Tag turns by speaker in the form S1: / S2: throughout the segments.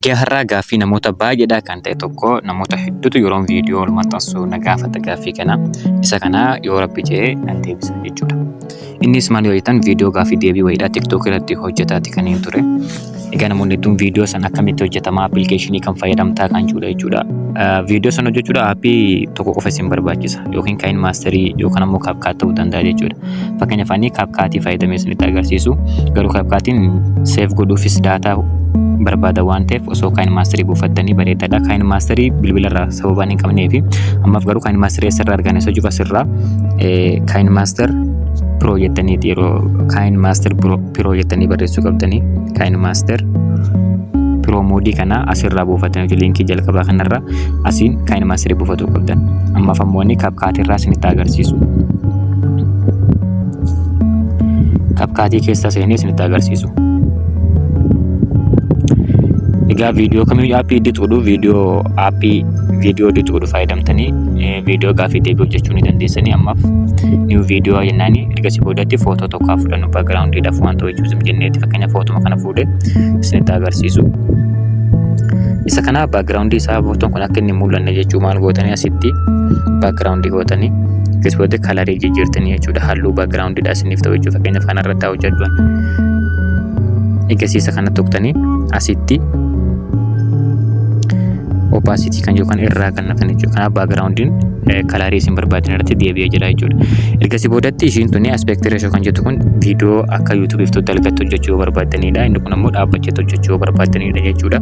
S1: Guyyaa har'aa gaaffii namoota baay'eedhaa kan ta'e tokko namoota hedduutu yeroon viidiyoo ol maxxansu na gaafata gaaffii kana. Isa kana yoo rabbi jedhe nan deebisa jechuudha. Innis maal yoo jettan viidiyoo gaaffii deebii wayiidhaa TikTok irratti hojjetaati kan hin ture. Egaa namoonni hedduun viidiyoo sana akkamitti hojjetama appilikeeshinii kan fayyadamtaa kan jedhudha jechuudha. Viidiyoo sana hojjechuudha aappii tokko qofa isin barbaachisa yookiin kaayinmaasterii yookaan ammoo kaapkaat ta'uu danda'a jechuudha. Fakkeenyaaf ani kaapkaatii fayyadamee isinitti agarsiisu garuu kaapkaatiin seef godhuufis daataa barbaada waan ta'eef osoo kaayin maasterii buufattanii bareedaadha. Kaayin maasterii bilbilarraa sababaan hin qabnee fi ammaaf garuu kaayin maasterii asirraa argana isa jiru asirraa kaayin maaster piroo jettanii yeroo kaayin maaster piroo jettanii barreessuu qabdanii kaayin maaster piroo moodii kana asirraa buufattanii liinkii jalqabaa kanarraa Asiin kan ilmaan siree buufatuu qabdan. Ammaaf ammoo inni kapkaatii irraa isinitti agarsiisu. Kapkaatii keessa seenee isinitti agarsiisu. Egaa viidiyoo kamiyyuu aappii dixuudhu viidiyoo aappii viidiyoo dixuudhu fayyadamtanii viidiyoo gaaffii deebii hojjechuu ni dandeessanii ammaaf niw viidiyoo jennaanii ergasii boodatti footoo tokko haa fudhannu background dhaaf wanta wajjin zim jenneeti fakkeenya footuma kana fuudhe isinitti agarsiisu. Isa kana background isaa footoon kun akka inni mul'anne jechuu maal gootanii asitti background gootanii keessatti kalarii jijjiirtanii jechuudha halluu background dha isiniif ta'u jechuudha fakkeenya faana irratti haa hojjechuun. Eegasiisa kana tuqtanii asitti opacity kan jiru kan irraa kana kan jechuudha. Kanaaf baagiraawundiin kalaarii isin barbaadan irratti deebi'ee jira jechuudha. Ergasii boodatti ishiin tuni aspekti reeshoo kan jettu kun viidiyoo akka yuutuubiif tuutti algatti hojjechuu yoo barbaadanidha. Inni kun ammoo dhaabbachee hojjechuu yoo barbaadanidha jechuudha.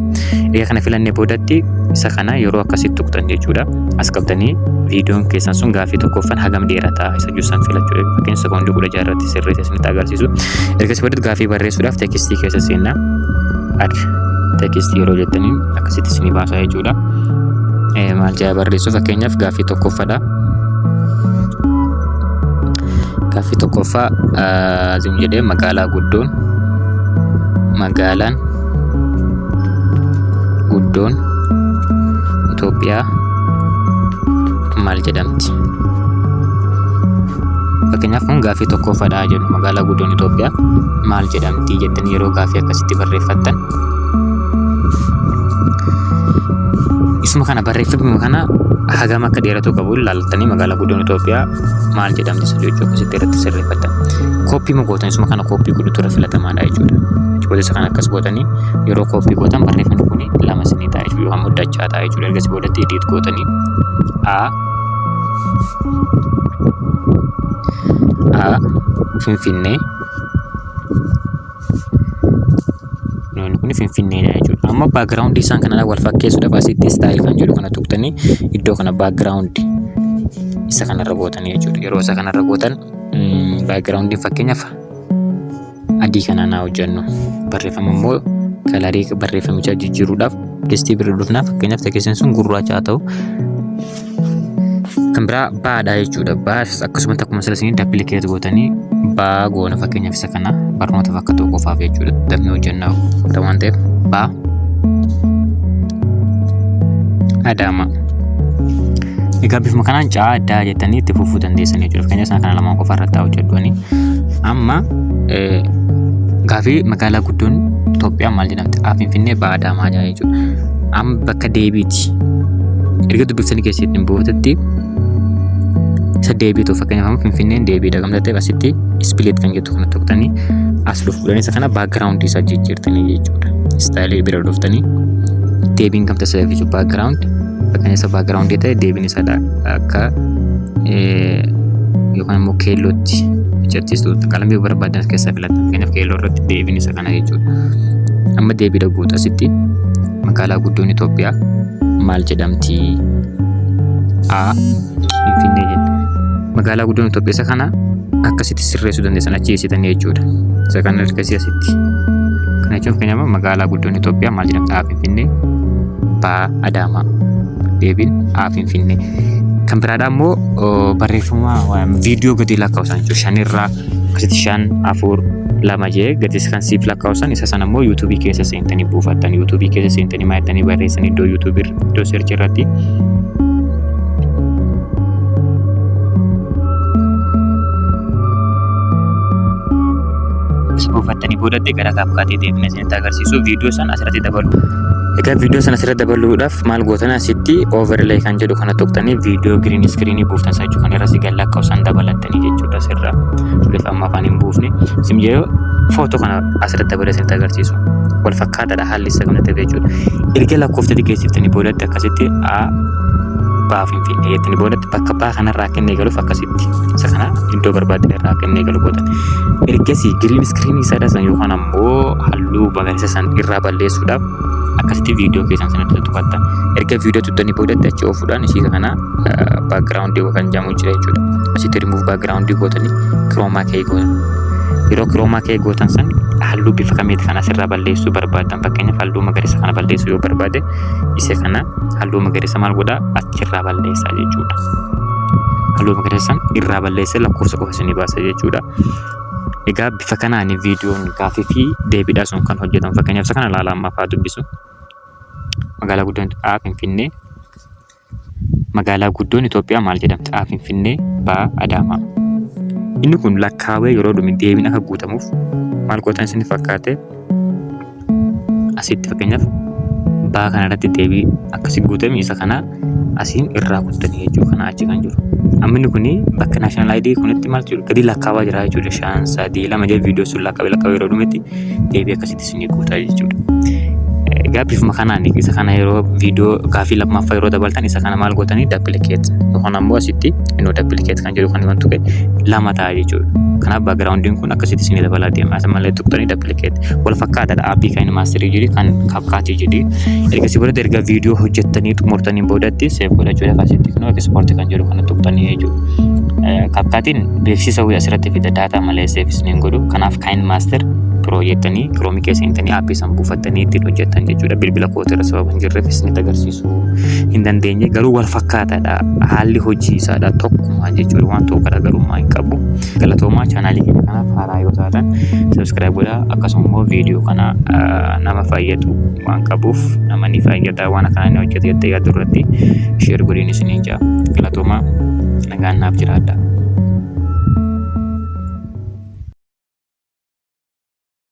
S1: Egaa kana filannee boodatti isa kana yeroo akkasitti tuqxan jechuudha. As qabdanii viidiyoon keessan sun gaaffii tokkoffan hagam dheerata isa jiru san filachuudha. Fakkeenya sekoondii kudha jaha irratti sirreessa isinitti agarsiisu. Ergasii boodatti gaaffii barreessuudhaaf teekistii keessa seenna. Ad teekistii yeroo jettaniin akkasitti isinii baasaa jechuudha. Maal jedha barreessuu fakkeenyaaf gaaffii tokkoffaadha. Gaaffii tokkoffaa zim jedhee magaalaa guddoon magaalaan guddoon Itoophiyaa maal jedhamti? Fakkeenyaaf kun gaaffii tokkoffaadha jedhu magaalaa guddoon Itoophiyaa maal jedhamti jettanii yeroo gaaffii akkasitti barreeffattan Isuma kana barreeffama kana hagam akka dheeratu qabu ilaaltanii magaalaa guddoon Itoophiyaa maal jedhamti isa jechuu akkasitti irratti sirreeffatan. Kooppii ma gootan isuma kana kooppii godhutu irra filatamaadha jechuudha. Jechoota isa kana akkas gootanii yeroo kooppii gootan barreeffamni kun lama isinii ta'a jechuudha yookaan muddachaa ta'a jechuudha. Ergasii boodatti ediit gootanii A A Finfinnee Loon kun finfinneedha jechuudha. Amma background isaan kanarraa wal fakkeessuudhaaf asitti style kan jedhu kana tuqtanii iddoo kana background isa kanarra gootanii jechuudha. Yeroo isa kanarra gootan background fakkeenyaaf adii kanaan haa hojjennu. Barreeffama immoo kalarii barreeffamichaa jijjiiruudhaaf distii birrii dhufnaa fakkeenyaaf tekeessin sun gurraacha haa ta'u. kan biraa baadha jechuudha. Baafis akkasumatti akkuma sila isinitti appilikeet gootanii baa goona fakkeenyaaf isa kana barnootaaf akka ta'u qofaaf jechuudha. Damee hojjannaa godha waan ta'eef baa adaama. Egaa bifuma kanaan caa addaa jettanii itti fufuu dandeessan jechuudha. Fakkeenyaaf isaan kana lamaan qofa irratti hojjedhuani. Amma gaafii magaalaa guddoon Itoophiyaa maal jedhamti? Finfinnee baa adaamaa jechuudha. amma bakka deebiiti erga dubbiftanii keessatti hin bootetti isa deebiitu fakkeenyaaf amma finfinneen deebiidha kan ta'eef asitti ispileet kan jettu kana tuqtanii as dhufuudhaan isa kana baakgiraawundi isaa jijjiirtanii jechuudha istaayilii bira dhuftanii deebiin kan taasisaa jechuudha baakgiraawundi fakkeenya isa baakgiraawundi ta'e deebiin isaa akka yookaan immoo keellootti hojjechiistu qalamii barbaadan keessaa filatan fakkeenyaaf keelloo irratti deebiin isaa kana jechuudha. Amma deebiidha guuta asitti magaalaa guddoon Itoophiyaa maal jedhamti? A. Finfinnee jenna. Magaalaa guddoon Itoophiyaa isa kana akkasitti sirreessuu dandeessan achi eessitanii jechuudha. Isa kana ergasii asitti. Kana jechuun fakkeenyaaf magaalaa guddoon Itoophiyaa maal jedhamti? A. Finfinnee. B. Adaamaa. Deebiin A. Finfinnee. Kan biraadhaa immoo barreeffama viidiyoo gadi lakkaa'u isaan jechuudha. Shanirraa Kiti shan afur lama jee gatis kan siif lakkaa'usan isa sana immoo yuutuubii keessa seentanii buufattan yuutuubii keessa seentanii maayattanii barreessan iddoo yuutuubii iddoo seerchi irratti buufattanii boodatti gara kaapkaatii deemne isinitti agarsiisu viidiyoo san asirratti dabalu. Egaa viidiyoo sana asirratti dabaluudhaaf maal gootan asitti overlay kan jedhu kana tuqtanii viidiyoo green screen buuftan isaa jechuudha. Kan irra si galla akka isaan dabalattanii jechuudha sirra. Kunis amma afaan hin buufne. Isin jedhu footoo kana asirratti dabalee isinitti agarsiisu. Wal fakkaataadha haalli isaa kanatti jechuudha. Erga lakkoofsa xiqqeessiftanii boodatti akkasitti A baa finfinnee jettanii boodatti bakka baa kanarraa akka inni eegaluuf akkasitti isa kana iddoo barbaaddan irraa akka inni eegalu gootan. Ergasii green screen isaa dhasan yookaan ammoo immoo halluu magariisa san irraa balleessuudhaaf akkasitti viidiyoo keessan sana irratti tuqattan erga viidiyoo tuttanii boodatti achi oofuudhaan ishii kana baakgiraawundii kan jedhamu jira jechuudha asitti rimuuf baakgiraawundii gootanii kiroomaa kee gootan yeroo kiroomaa kee gootan san halluu bifa kamiiti kan asirraa balleessuu barbaadan fakkeenyaaf halluu magariisa kana balleessuu yoo barbaade isa kana halluu magariisa maal godhaa achirraa balleessaa jechuudha halluu magariisa san irraa balleessee lakkoofsa qofa isinii baasa jechuudha Egaa bifa kanaan viidiyoon gaafii fi deebiidhaa sun kan hojjetamu. Fakkeenyaaf isa kana ilaala amma fa'aa dubbisu. Magaalaa guddaan A Finfinnee. Magaalaa guddoon Itoophiyaa maal jedhamti? A Finfinnee, B Adaamaa. Inni kun lakkaawee yeroo dhume deebiin akka guutamuuf maal gootan isin fakkaate? asitti fakkeenyaaf baa kana irratti deebii akkasi guutame isa kana asiin irraa kuttanii jechuu kana achi kan jiru. Amminni kun bakka national ID kunitti maal jiru gadi lakkaawaa jira jechuudha. Shan sadii lama jedhee viidiyoo sun lakkaawee lakkaawee yeroo dhumetti deebii akkasitti isin guutaa jechuudha. Egaa bifuma kanaan isa kana yeroo viidiyoo gaaffii lammaffaa yeroo dabaltan isa kana maal gootanii dappilikeet yookaan ammoo asitti inuu dappilikeet kan jedhu kan himan tuqe lama ta'a jechuudha. Kanaaf backgroundin kun akkasitti isin dabalaa deema. As malee tuqxanii duplicate wal fakkaataadha aappii kan maasterii jedhi kan kapkaatii jedhi. Ergasii boodatti erga viidiyoo hojjettanii xumurtanii boodatti seef godhachuudhaaf asitti kunoo ekspoortii kan jedhu kana tuqxanii jechuudha. Kapkaatiin beeksisa wayii asirratti fida daataa malee seef isin hin godhu. Kanaaf kan maaster biroo jettanii kiroomii keessa hintanii aappii san buufattanii ittiin hojjettan jechuudha. Bilbila kootirra sababa hin jirreef isinitti agarsiisu. dhiyeessuu hin dandeenye garuu wal fakkaataadha haalli hojii isaadha tokkuma jechuudha waan tokko garaagarummaa hin qabu galatoomaa chaanaalii keenya kanaaf haaraa yoo taatan sabiskiraayib godhaa akkasuma immoo viidiyoo kana nama fayyadu waan qabuuf nama ni fayyada waan akkanaa inni hojjete jettee yaaddu irratti sheer godhiin isiniin jaa galatoomaa nagaan naaf jiraadhaa.